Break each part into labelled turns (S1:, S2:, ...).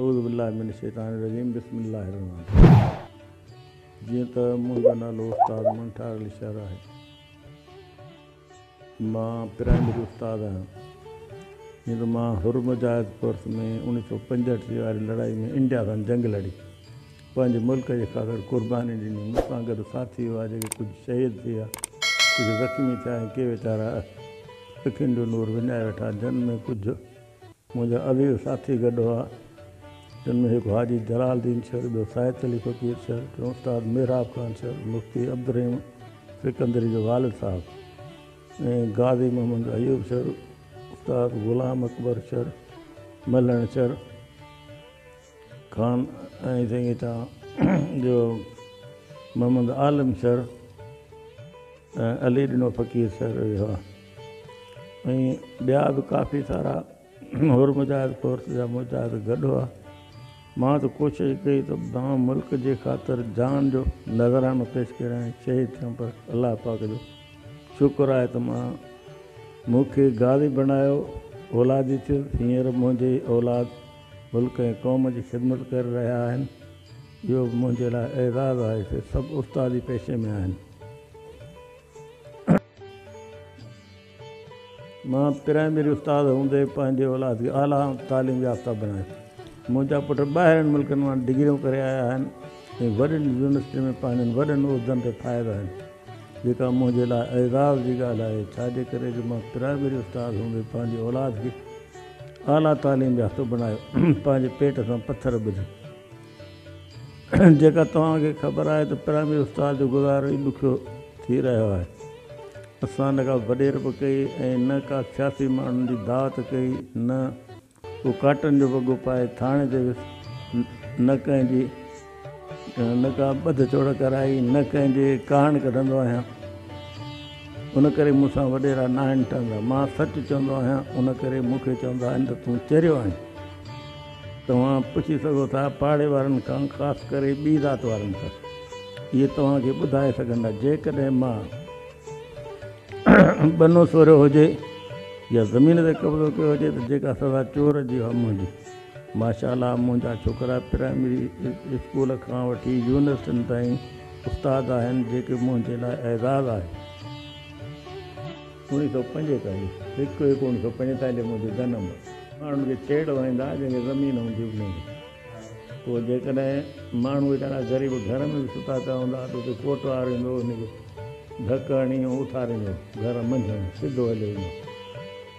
S1: اعوذ بالله من الشيطان الرجيم بسم الله الرحمن الرحيم جيئن ته منهنجو نالو استاد منٺار علي شهر آهي مان پرائمري استاد آهيان جيئن ته مان هرمزايد ڪورس ۾ انيس سو پنجهٺ جي واري لڙائي ۾ انڊيا سان جنگ لڙي پنهنجي ملڪ جي خاطر قرباني ڏني، مون سان گڏ ساٿي هئا جيڪي ڪجهه شهيد ٿيا، ڪجهه زخمي ٿيا ۽ ڪي ويچارا اکين جو نور وڃائي ويٺا جن ۾ ڪجهه منهنجا عزيز ساٿي گڏ هئا جن ۾ هڪ حاجي جلال الدين شر، ٻيو ساهت علي فقير شر، ٽيون استاد محراب خان شر، مفتي عبدالرحيم سڪندري جو والد صاحب ۽ غازي محمد ايوب شر، استاد غلام اڪبر شر، ملڻ شر. خان ۽ سنگيتا جو محمد عالم سر ۽ علي ڏنو فقير سر اهي هئا ۽ ٻيا به ڪافي سارا هور مجاهد فورس جا مجاهد گڏ هئا مان ته ڪوشش ڪئي ته مان ملڪ جي خاطر جان جو نذرانو پيش ڪريان ۽ شهيد ٿيان پر الله پاڪ جو شڪر آهي ته مان مون کي غازي بڻايو اولادي ٿيس هينئر منهنجي اولاد ملڪ ۽ قوم جي خدمت ڪري رهيا آهن اهو به منهنجي لاء اعزاز آهي سي سڀ استادي پيشي ۾ آهن مان پرائمري استاد هوندي پنهنجي اولاد کي اعليٰ تعليم يافته بڻايو منهنجا پٽ ٻاهرين ملڪن مان ڊگريون ڪري آيا آهن ۽ وڏين يونيورسٽين ۾ پنهنجن وڏن عهدن تي فائز آهن جيڪا منهنجي لاء اعزاز جي ڳالهه آهي ڇاجي ڪري جو مان پرائمري استاد هوندي پنهنجي اولاد کي اعليٰ تعليم يافته بڻايو پنهنجي پيٽ سان پٿر ٻڌ جيڪا توهان کي خبر آهي ته پرائمري استاد جو گذارو ئي ڏکيو ٿي رهيو آهي اسان نه ڪا وڏيرپ ڪئي ۽ نه ڪا سياسي ماڻهن جي دعوت ڪئي نه ڪو ڪاٽن جو وڳو پائي ٿاڻي تي ويس نه ڪنهن جي نه ڪا ٻڌ چوڙ ڪرائي، نه ڪنهن جي ڪاهڻ ڪڍندو آهيان، ان ڪري مون سان وڏيرا ناهن ٺهندا. مان سچ چوندو آهيان، ان ڪري مون کي چوندا آهن ته تون چريو آهين. توهان پڇي سگهو ٿا پاڙي وارن کان، خاص ڪري ٻي ذات وارن کان. اهي توهان کي ٻڌائي سگهندا. جيڪڏهن مان ٻنو سوريو هجي يا زمين تي قبضو ڪيو هجي ته جيڪا سزا چور جي اها منهنجي. ماشاء الله منهنجا ڇوڪرا پرائمري اسڪول کان وٺي يونيورسٽين تائين استاد آهن جيڪي منهنجي لاء اعزاز آهي. اوڻيهه سؤ پنجيتاليهه هڪ هڪ اوڻيهه سؤ پنجيتاليهه منهنجو جنم هو. ماڻهن کي ڇيڙ وهائيندا جنهن کي زمين هوندي انهي کي پوء جيڪڏهن ماڻهو ويچارا غريب گهر ۾ به ستا پيا هوندا ته اتي ڪوٽوار ايندو انهي کي ڌڪ هڻي ۽ اٿاريندو گهر منجهند سڌو هليو ايندو.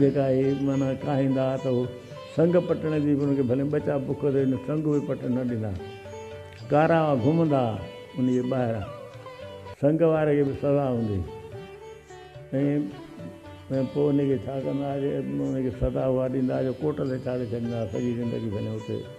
S1: جيڪا اهي معنيٰ ڪاهيندا ها ته هو سنگ پٽڻ جي به ان کي ڀلين ٻچا بک تي وڃي سنگ به پٽڻ نه ڏيندا ها. ڪارا هئا گهمندا ها انهيء جي ٻاهر. سنگ واري کي به سزا هوندي هئي ۽ پوء انهيء کي ڇا ڪندا ها جو ان کي سزا اها ڏيندا ها جو ڪوٽ تي چاڙهي ڇڏيندا ها سڄي زندگي ڀلين اتي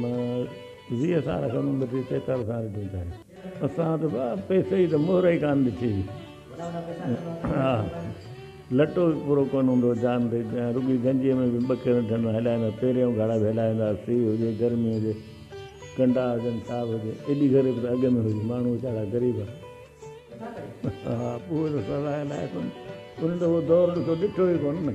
S1: مان ذيء ساڻ سندن ڏٺي چڪر سان ڏٺو ته. اسان ته ڀاء پئسي جي ته مهر ئي ڪانه ڏٺي هئي. ها لٽو به پورو ڪونه هوندو هو جان تي ۽ رڳي گنجيء ۾ به ٻه کيرن ٺنڊو هلائيندا هئا. پيريون گهڙا به هلائي ويندا هئا. سيء هجي، گرمي هجي، ڪنڊا هجن، ڇا به هجي. ايڏي غريب ته اڳ ۾ هئي. ماڻهو ويچارا غريب هئا. ها اهو ته سزا الائي ڪونه. انهن ته اهو دور ڏکيو ڏٺو ئي ڪونه نه.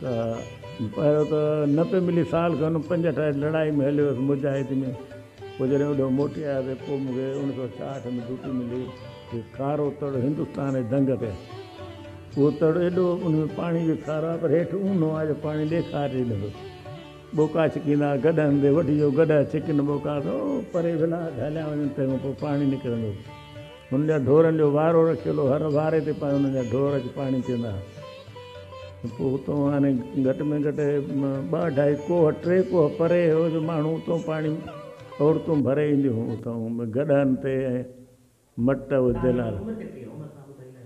S1: ته پهريون ته نه پئي ملي، سال کن پنجهٺ واري لڙائي ۾ هليو هيس مجاهد ۾، پوء جڏهن اوڏانهن موٽي آيو ته پوء مون کي اوڻيهه سؤ ڇاهٺ ۾ ڊيوٽي ملي هڪ کارو تڙ هندستان جي دنگ تي. اهو تڙ ايڏو ان ۾ پاڻي جو کارو آهي پر هيٺ اونهو آهي جو پاڻي ڏيکار ڏئي نٿو. ٻوڪا ڇڪيندا هئا گڏهن تي وٺجو گڏهه ڇڪين ٻوڪا ته پري ولاء ٿا هليا وڃن تنهن کان پوء پاڻي نڪرندو. هن جا ڍورن جو وارو رکيل هو. هر واري تي پاڻ هن جا ڍور اچي پاڻي پيئندا هئا. پوء اتون هاڻي گهٽ ۾ گهٽ ٻه اڍائي ڪوهه، ٽي ڪوهه پري هو جو ماڻهو اتون پاڻي عورتون ڀري اينديون هيون. اتون گڏهن تي ۽ مٽ وڌيل.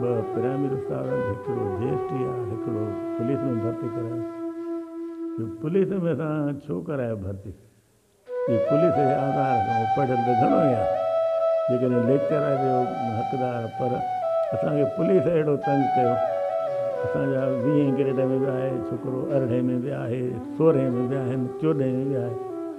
S1: ٻه پرائمري استاد آهن هڪڙو جي ايس ٽي آهي هڪڙو پوليس ۾ ڀرتي ڪرايو جو پوليس ۾ اسان ڇو ڪرايو ڀرتي جي پوليس جي آزار کان پڙهيل ته گهڻو ئي آهي جيڪڏهن ليڪچر آهي جو حقدار پر اسان کي پوليس اهڙو تنگ ڪيو اسان جا ويهين گريڊ ۾ به آهي ڇوڪرو ارڙهين ۾ به آهي سورهين ۾ به آهن چوڏهين ۾ به آهي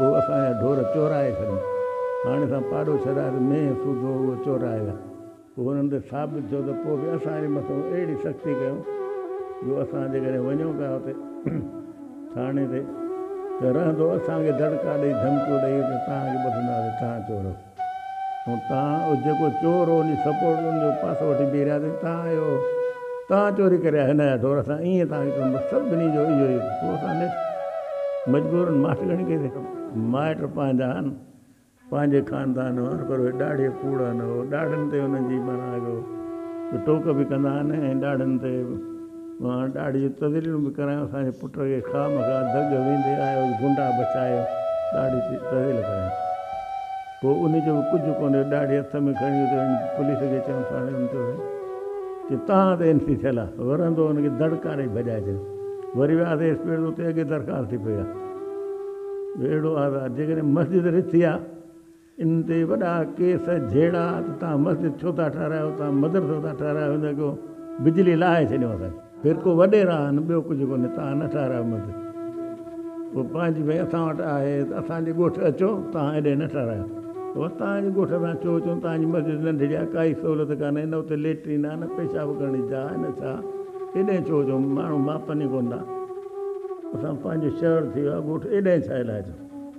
S1: هو اسان جا ڍور چورائي ڇڏن. هاڻي اسان پاڏو ڇڏايو ته مينهن سوڌو اهو چورائي ويا. پوء هنن تي ثابت ٿيو ته پوء به اسان جي مٿان اهڙي سختي ڪيون جو اسان جيڪڏهن وڃون پيا اتي ٿاڻي تي ته رهندو اسان کي دڙڪا ڏئي ڌمڪيون ڏئي ته توهان کي ٻڌنداسين توهان چور آهيو. تان اهو جيڪو چور هو انهي سپورٽ زون جو پاسو وٺي بيهي رهياسين تان اهو تان چوري ڪري آيو هنايا ڍور اسان ائين تان هي ڪم سڀني جو اهو ئي پوء اسان نيٺ مجبورن ماٺ ڳڻي ڪئيسين ڪم مائٽ پنهنجا هن پنهنجي خاندان هن پر اهي ڏاڙهي ڪوڙ هن ڏاڙهن تي انهن جي معنيٰ اهو ته ٽوڪ به ڪندا هن ۽ ڏاڙهن تي مان ڏاڙهي جون تذليلون به ڪرايون، اسان جي پٽ کي خواهه مخواهه دڳ ويندي آيو جو گنڊا بچايو، ڏاڙهي تي تذليل ڪرايون. پوء انهي جو به ڪجهه ڪونه رهيو، ڏاڙهي هٿ ۾ کڻي اچي هن پوليس کي چيائون، ٿاڻي ۾ چيو سائين جي توهان تي اين سي ٿيل آ، ورندو هن کي دڙڪا ڏئي ڀڄائي ڇڏيو. وري وياسين ايس پي وٽ ته اتي اڳي درخواست ٿي پئي آ جو اهڙو آزاد جيڪڏهن مسجد رٿي آ، ان تي وڏا ڪيس جهيڙا ته توهان مسجد ڇو ٿا ٺهرايو، توهان مدرسو ٿا ٺهرايو، هن اڳو بجلي لاهي ڇڏيو اسان کي. فرقو وڏيرا آهن ٻيو ڪجهه ڪونهي، توهان نه ٺهرايو مسجد، پوء پنهنجي ڀئي اسان وٽ آهي ته اسان جي ڳوٺ اچو، توهان هيڏي نه ٺهرايو. بس توهان جي ڳوٺ اسان ڇو اچون، توهان جي مسجد ننڍڙي آهي، ڪائي سهولت ڪانهي، نه اتي ليٽرين آهي، نه پيشاب ڪرڻ جي جاء آهي، نه ڇا، هيڏي ڇو اچون، ماڻهو ماپن ئي ڪونه ٿا، اسان پنهنجو شهر ٿي ويو آهي، ڳوٺ هيڏي ڇا لاء اچون.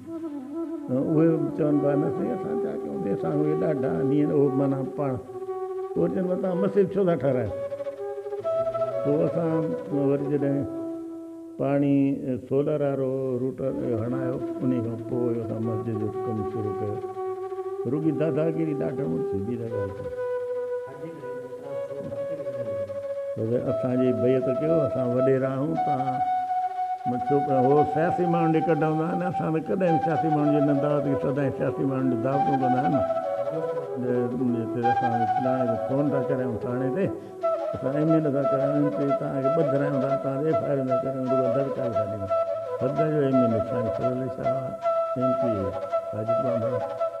S1: اهي چون ٿا نه سائين اسان ڇا ڪيون ڪي سان اهي ڏاڍا آهن اهو معنيٰ پاڻ پوء چون ٿا تان مسجد ڇو ٿا ٺهرايو پوء اسان وري جڏهن پاڻي سولر وارو روٽر هڻايو انهي کان پوء اسان مسجد جو ڪم شروع ڪيو رڳي داداگيري ڏاڍن ۾ ٿيندي رهي پر اسان جي بيعت ڪيو، اسان وڏيرا آهيون، توهان مان ڇوڪرا هو، سياسي ماڻهن ڏي ڪڍ هوندا آهن، اسان ته ڪڏهن به سياسي ماڻهن جي نه دعوت ڪئي، سدائين سياسي ماڻهن ڏي دعوتون ڪندا آهن، جي ڪڏهن اسان کي فلاڻي کي فون ٿا ڪريائون ٿاڻي تي، اسان ايم اين اي ٿا ڪرايون، ايم پي توهان کي ٻه ڌرايون ٿا، توهان تي ايف آء آرون ٿا ڪريون، رڳو دڙڪا ويٺا ڏيون، سدا جو ايم اين اي سائين Fazal Ali Shah M P A Wajid ٻانڀڻ.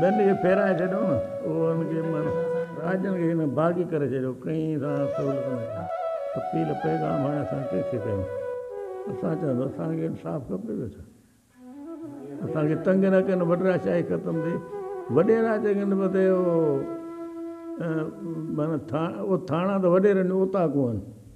S1: ٻين کي ڦيرائي ڇڏيو نه اوهن کي مر راڄن کي هن باغي ڪري ڇڏيو ڪنهن سان سهولت نه ڪئي اپيل پيغام هاڻي اسان ڪنهن کي ڪيون اسان چون ٿا اسان کي انصاف کپي ٿو ڇا اسان کي تنگ نه ڪن وڏيرا شاهي ختم ٿي وڏيرا چڱن وڌي هو مانا ٿا او ٿاڻا ته وڏيرن جو اوطاقون آهن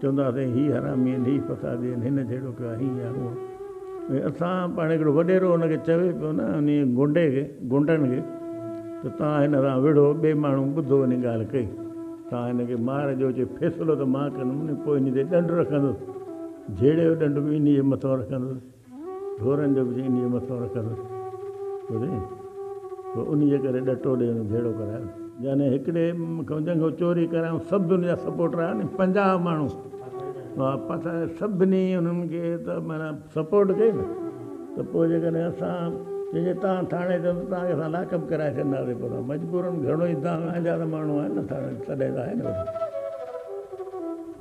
S1: چوندا سائين هي حرامي آهن، هي فسادي آهن، هن جهڙو ڪو آهي يا هونء ۽ اسان پاڻ هڪڙو وڏيرو ان کي چوي پيو نه انهي گونڊي کي، گونڊڻ کي ته توهان هن سان وڙهو، ٻئي ماڻهو ٻڌو انهي ڳالهه ڪئي، توهان هن کي مار ڏيو، چي فيصلو ته مان ڪندم نه پوء انهي تي ڏنڊ رکندس، جهيڙي جو ڏنڊ به انهي جي مٿو رکندس. ڍورن جو به انهيء مٿئون رکس ڪري پوء انهيء ڪري ڏٽو ڏئي ان جهيڙو ڪرايو. يعني هڪڙي کان جنگهو چوري ڪرايائون سڀ جا سپورٽر آيا ني پنجاهه ماڻهو ها پسا سڀني انهن کي ته معنيٰ سپورٽ ڪئي نه ته پوء جيڪڏهن اسان چئي جي تان ٿاڻي چئون ته تان کي اسان لاڪ اپ ڪرائي ڇڏنداسي پوء اسان مجبورن گهڻو ئي تان جا ته ماڻهو آهن نه ٿاڻي تڏهن ته آهي نه وڏو.